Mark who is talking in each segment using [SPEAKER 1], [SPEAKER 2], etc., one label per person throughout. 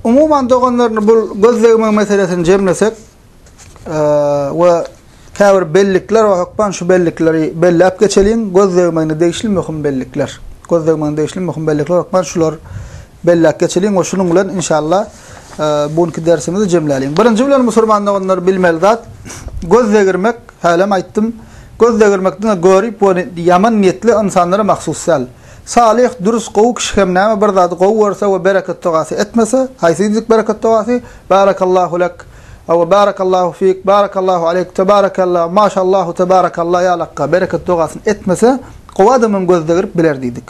[SPEAKER 1] Umuman doganlarny bu gözlegme meselesini jemlesek we käbir bellikler we hökman şu bellikleri belläp geçeliň. Gözlegmegine degişli möhüm bellikler. Gözlegmegine degişli möhüm bellikler hökman şular belläp geçeliň we şunuň bilen inşallah bu günki dersimizi jemläliň. Birinji bilen musulman doganlar bilmeli zat gözlegirmek, hälem aýtdym. Gözlegirmek diňe görip we ýaman niýetli insanlara mahsus däl. Salyh, dürüst, gowy kişi hem näme bir zady gowy görse we bereketdugasy etmese, haýsy diýdik bereketdugasy, Barakallahu lek, we Barakallahu fik, Barakallahu aleyk, Tebarakella, Maşallahu Tebarakella ýalakka bereketdugasyny etmese, gowy adamam gözde girip biler diýdik.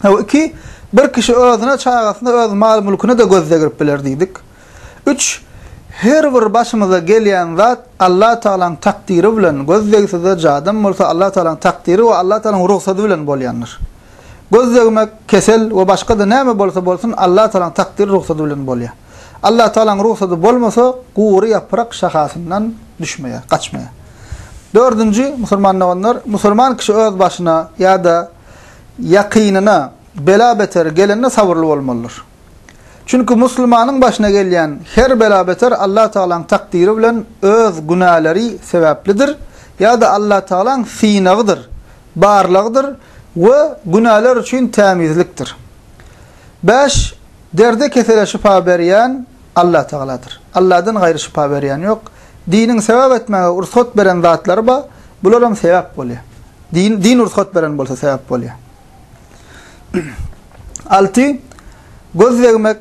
[SPEAKER 1] Hawa, iki, bir kişi özüne, çagasyna, öz mal-mülküne-de gözde girip biler diýdik. Üç, Her bir başymyza gelýän zat Allatagalaň takdyry bilen, göz degse-de, jadam bolsa Allatagalaň takdyry we Allatagalaň rugsady bilen bolýandyr. Göz degmek, kesel we başga-da näme bolsa bolsun Allatagalaň takdyry, rugsady bilen bolýar. Allatagalaň rugsady bolmasa, gury ýaprak şahasyndan düşmeýär, gaçmaýar. Dördünji, musulman doganlar, musulman kişi öz başyna ýa-da ýakynyna bela-beter gelende sabyrly bolmalydyr. Çünki musulmanyň başyna gelýän her bela-beter Allatagalaň takdyry bilen öz günäleri sebäplidir ýa-da Allatagalaň synagydyr, barlagydyr we günäler üçin tämizlikdir. Bäş, Derde-kesele şypa berýän Allatagaladyr. Alladan gaýry şypa berýän ýok. Diniň sebäp etmäge rugsat beren zatlary bar, bular hem sebäp bolýar. Din rugsat beren bolsa sebäp bolýar. Alty, göz degmek,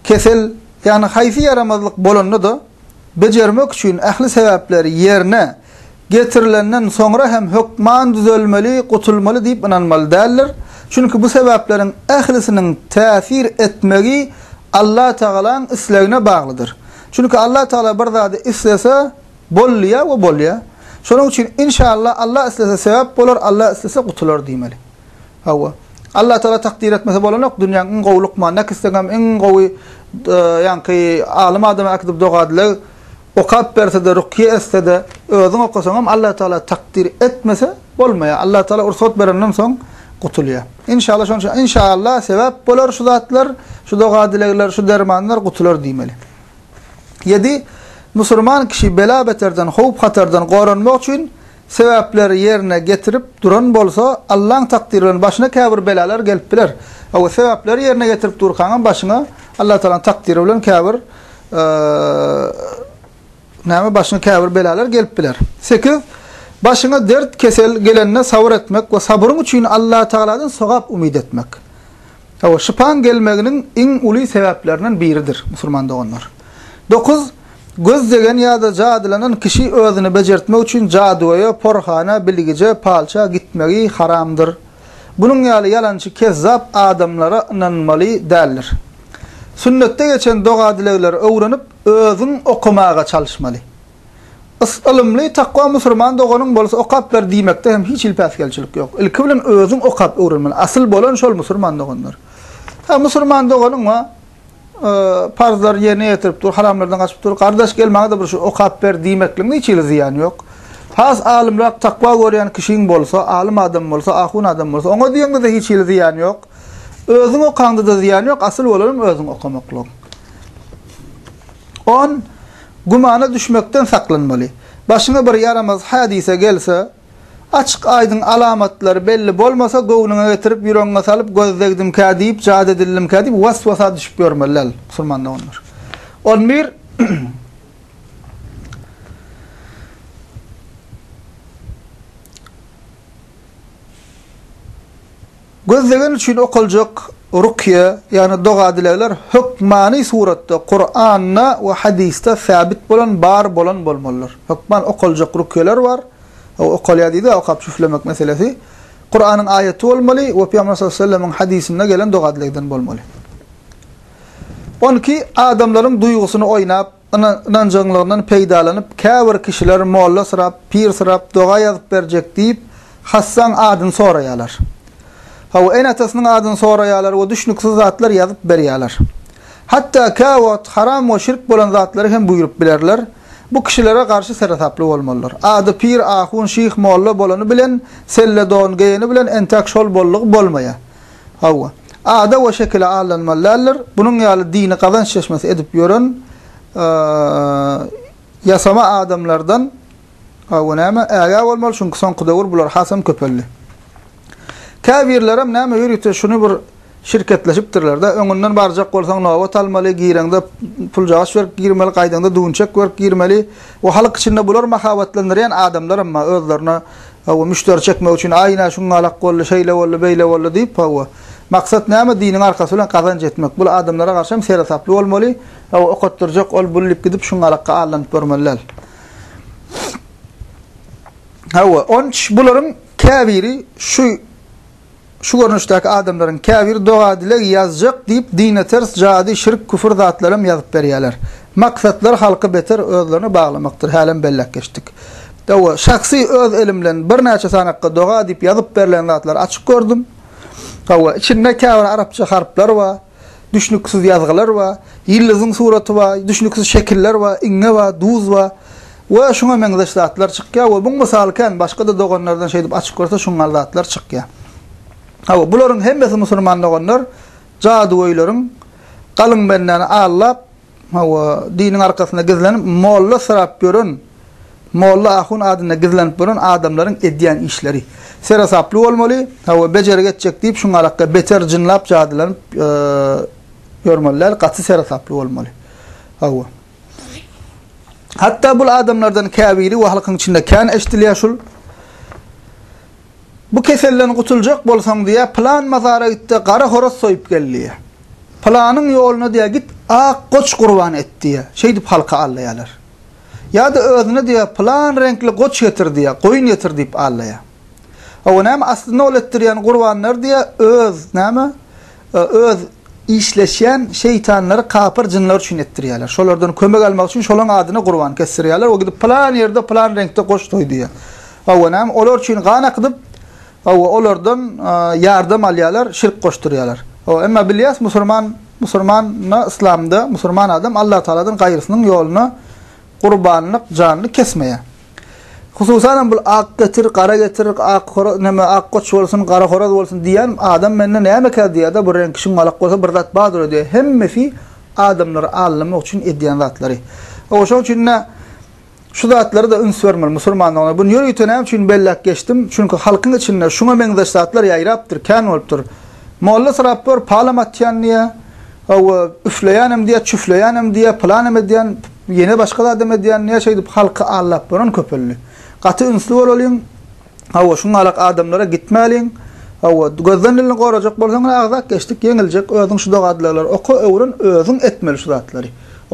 [SPEAKER 1] kesel, ýagny haýsy ýaramazlyk bolanda-da, bejermek üçin ähli sebäpleri ýerine getirilenden soňra hem hökman düzelmeli, gutulmaly diýip ynanmaly däldir. Çünki bu sebäpleriň ählisiniň täsir etmegi Allatagalaň islegine baglydyr. Çünki Allatagala bir zady islese, Bolýa we bolýa. Şonuň üçin inşallah Allah islese söwap bolar Allah islese gutular diýmeli. Hawa. Allah Taala takdyr etmese bolanok dünýäň iň gowy lukmany näki isleňem iň gowy ýaňky alym adama äkidip dogadylag okap bersede rukýe etsede özüň okasaňam Allah Taala takdyr etmese bolmaýa. Allah Taala ursat berenden soň gutulýa. Inşallah şonuň üçin inşallah söwap bolar şu zatlar şu doga dilegler şu dermanlar gutular diýmeli. Ýedi, Musurman kişi bela-beterden, howp-hatardan goranmak üçin sebäpleri ýerine getirip duran bolsa, Allaň takdyry bilen başyna käbir belalar gelip biler. Hawa, sebäpleri ýerine getirip durkaňam başyňa Allatagalaň takdyry bilen käbir näme başyňa käbir belalar gelip biler. Sekiz, Başyňa dert, kesel gelende sabyr etmek we sabryň üçin Allatagaladan sogap umyt etmek. Hawa, şypaň gelmeginiň iň uly sebäplerinden biridir, musulman doganlar. Dokuz, Göz degen ýa-da jadylanan kişi özüni bejertmek üçin jadygöýe, porhana, bilgije, palça, gitmegi haramdyr. Bunuň ýaly ýalançy, kezzap adamlara ynanylmaly däldir. Sünnetde geçen doga-dilegleri öwrenip, özüň okamaga çalyşmaly. Is ylymly, takwa musurman doganyň bolsa okap ber diýmekde hem hiç hili päsgelçilik ýok. Ilki bilen özüň okap öwrenmeli. Asyl bolan şol musurman doganlar. Hä musurman doganyň wa parzlary ýerine ýetirip dur, haramlardan gaçyp dur. Gardaş gel maňa-da bir şu okap ber diýmekligiň hiç hili zyýany ýok. Has alymrak, takwa görýän kişiň bolsa, alym adam bolsa, ahun adam bolsa, oňa diýeňde-de hiç hili zyýany ýok. Özüň okaňda-da zyýany ýok, asyl bolanam özüň okamaklygyň. On. Gümana düşmekden saklanmaly. Başyňa bir ýaramaz hädise gelse, açyk-aýdyň alamatlary belli bolmasa, göwnüňe getirip, ýüregiňe salyp, göz degdimkä diýip, jady edildimkä diýip, was-wasa düşüp ýörmeli däl, musulman doganlar. On bir. Gözlegeni üçin okaljak rukýa, ýagny doga-dilegler hökmany suratda Kuranda we hadysda säbit bolan, bar bolan bolmalydyr. Hökman okaljak rukýalar bar, o okalýar diýdi, okap jüflemek meselesi. Kuranyň aýaty bolmaly we Pygamber sallallahu aleyhi ve sellemiň hadysynda gelen doga-dilegden bolmaly. On iki, adamlaryň duýgusyny oýnap, Ynanjaňlygyndan peýdalanyp, käbir kişiler mollasyrap, pirsyrap doga ýazyp berjek diýip, hassaň adyny soraýarlar. Hawa, ene-atasynyň adyny soraýarlar we düşnüksiz zatlar ýazyp berýärler. Hatda käwagt haram we şirk bolan zatlary hem buýrup bilerler. Bu kişilere garşy seresaply bolmalydyr. Ady pir, ahun, şyh, molla bolany bilen, selle don geýeni bilen entäk şol bollugy bolmaýar. Hawa. Ada we şekile aldanmaly däldir. Bunuň ýaly dini gazanç çeşmesi edip ýören ýasama adamlardan hawa näme ägä bolmaly, çünki soňky döwür bular hasam köpeldi. Käbirlerem näme ýörite şuny bir şirketleşipdirler-de, öňünden barjak bolsaň nobat almaly, gireňde puljagaç berip girmeli, gaýdaňda düwünçek berip girmeli we halk içinde bular mahabatlandyrýan adamlaram bar, özlerine Hawa, müşderi çekmek üçin, aý, ine, şuňňalak boldy, şeýle boldy, beýle boldy diýip, hawa. Maksat näme? Diniň arkasy bilen gazanç etmek. Bul adamlara garşy hem seresaply bolmaly, hawa, okatdyrjak ol, bul diýip gidip şuňňalakka allanyp görmeli däl. Hawa, onç bularyň käbiri şu. şu görnüşdäki adamlaryň käbiri doga-dileg ýazjak diýip dine ters jady, şirk, küfür zatlaram ýazyp berýäler. Maksatlary halky beter özlerine baglamakdyr, hälem belläp geçdik. Hawa, şahsy öz elim bilen birnäçe sanakga doga diýip ýazyp berlen zatlary açyp gördüm. Hawa, içinde käbir arapça harplar bar. düşnüksiz ýazgylar bar, ýyldyzyň suraty bar, düşnüksiz şekiller bar, iňňe bar, duz bar we şuňa meňzeş zatlar çykýar we muň mysaly kän, başga-da doganlardan şeýdip açyp görse şuňňal zatlar çykýar. Hawa, bularyň hemmesi musulman doganlar jadygöýleriň galyň bendäni allap, Hawa, diniň arkasynda gizlenip, molla syrap ýören, molla ahun adynda gizlenip ýören adamlaryň edýän işleri. Seresaply bolmaly, hawa, bejergi etjek diýip, şuňa alakda beter jynlap, jadylanyp ýörmeli däl, gaty seresaply bolmaly. Hawa. Hatda bul adamlardan käbiri we halkyň içinde kän eşdilýär şul, Bu keselden gutuljak bolsaň diýýär, pylan mazara git-de, gara horaz soýup gel diýýär. Pylanyň ýoluna diýýär, git, ak goç gurban et diýýär. Şeýdip halky aldaýarlar. Ýa-da özüne diýýär, pylan reňkli goç getir diýýär, goýun getir diýip aldaýar. Hawa, näme, aslynda ol etdirýän gurbanlary diýýär, öz, näme, öz işleşýän şeýtanlary, kapyr jynlary üçin etdirýärler. Şolardan kömek almak üçin şolaryň adyna gurban kesdirýärler we gidip pylan ýerde pylan reňkde goç soý diýýär. Hawa, näme, olar üçin gan akydyp, Hawa, olardan ýardam alýarlar, şirk goşdurýarlar. Hawa, emma bilýäs, musurman, musurmana yslamda musurman adam Allatagaladan gaýrysynyň ýoluna gurbanlyk, janly kesmeýär. Hususan hem bu ak getir, gara getir, ak horaz, näme, ak goç bolsun, gara horaz bolsun diýýän adam mende nämekä diýýär-de, bu reňki şuňalak bolsa bir zat bardyr-a diýýär. Hemmesi adamlary aldamak üçin edýän zatlary. Hawa, şonuň üçin-de Şu zatlara-da üns bermeli musurmanlygyna. Buny ýörite näme üçin belläp geçdim? Çünki halkyň içinde şuňa meňzeş zatlar ýaýrapdyr, kän bolupdyr. Molla syrap gör, palam atýan diýýä, hawa, üfleýänem diýýä, çüfleýänem diýýä, pylanem edýän, ýene başga zadam edýän diýýä, şeýdip halky aldap bolan köpeldi. Gaty ünsli bolalyň, hawa, şu galak adamlara gitmäliň, hawa, gözden-dilini gorajak bolsaň, ine, agzap geçdik, ýeňiljek, özüň şu doga-dilegleri oka, öwren, özüň etmeli şu zatlary.